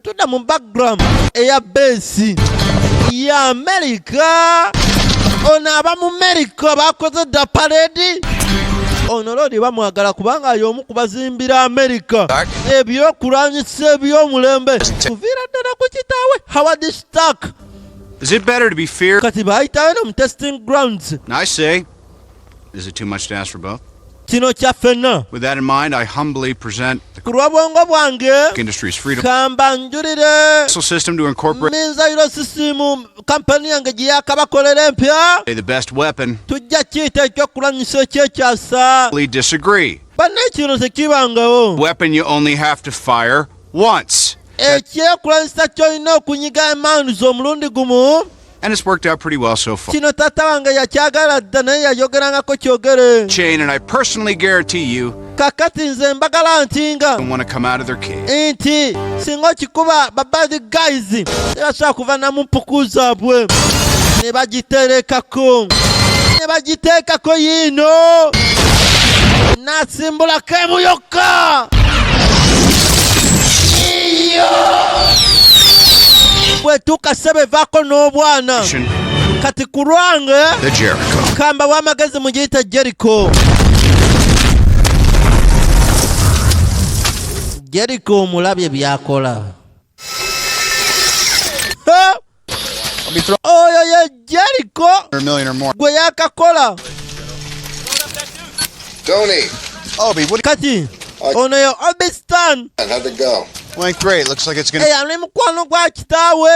tudda mu backgram eya beesi ya amerika ono aba mu amerika bakoze dda paledi ono loodi bamwagala kubanga y'omu ku bazimbira amerika ebyokulwanyisa ebyomulembe kuviira ddala ku kitaawe howard stark kati baayitayo no mu testing grounds Is it too much to ask for both? kino kya ffenna ku lw'obwongo bwange kamba njulire minzayiro sisiimu kampani yange gye yakabakolera empya tujja kiyita ekyokulwanyisa ekyekyasa banna ekino tekibangawo ekyekulwanyisa ky'olina okunyiga emaanu z'omulundi gumu And it's worked out pretty well so far. Kino tata wange yakyagala dda naye yayogerangako kyogere. Chain and I personally guarantee you kakati nze mbagala nti nga nti singa okikuba babadi guys tebasobola kuva namu mpuku zaabwe ne bagiterekako ne bagiteekako yiino nasimbulako emuyo Ka! bwetuuka ssebo evaako n'obwana kati ku lwange kamba w'amagezi mu giyita jeriko jeriko omulabye byakola oyo ye jeriko gwe yakakola kati ono yo obistan eyali mukwano gwa kitaawe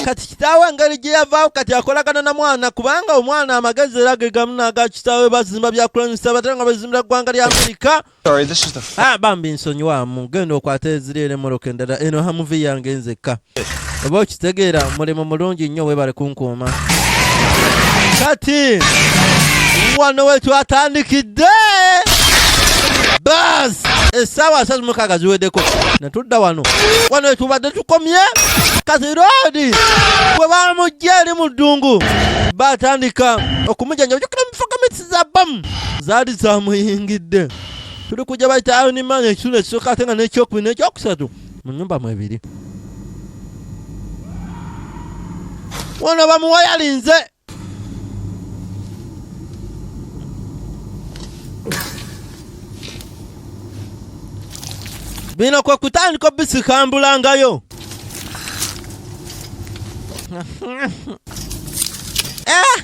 kati kitaawe engeri gye yavaawo kati akolagana na mwana kubanga omwana amagezi era ge gamu n'aga kitaawe bazimba byakulwanyisa batera nga bazimbira ggwanga lya amerika Sorry, this is the f- ah, bambi nsonyiwamu genda okwata eziriera emoroka endala eno hamuvi yange nzekka oba okitegeera mulimu mulungi nnyo webale kunkuuma kati wano wetwatandikidde bas essaawa asatu mukaaga ziweddeko netudda wano wano wetubadde tukomye kati roodi bwe bamujja eri mu ddungu batandika okumujanja za bbamu zaali zamuyingidde tuli kujja bayita iron man ekitundu ekisooka ate nga n'ekyokubiri n'ekyokusatu mu nyumba mwebiri wano bamuwayalinze bino kwe kutandika obisikambulangayo eh!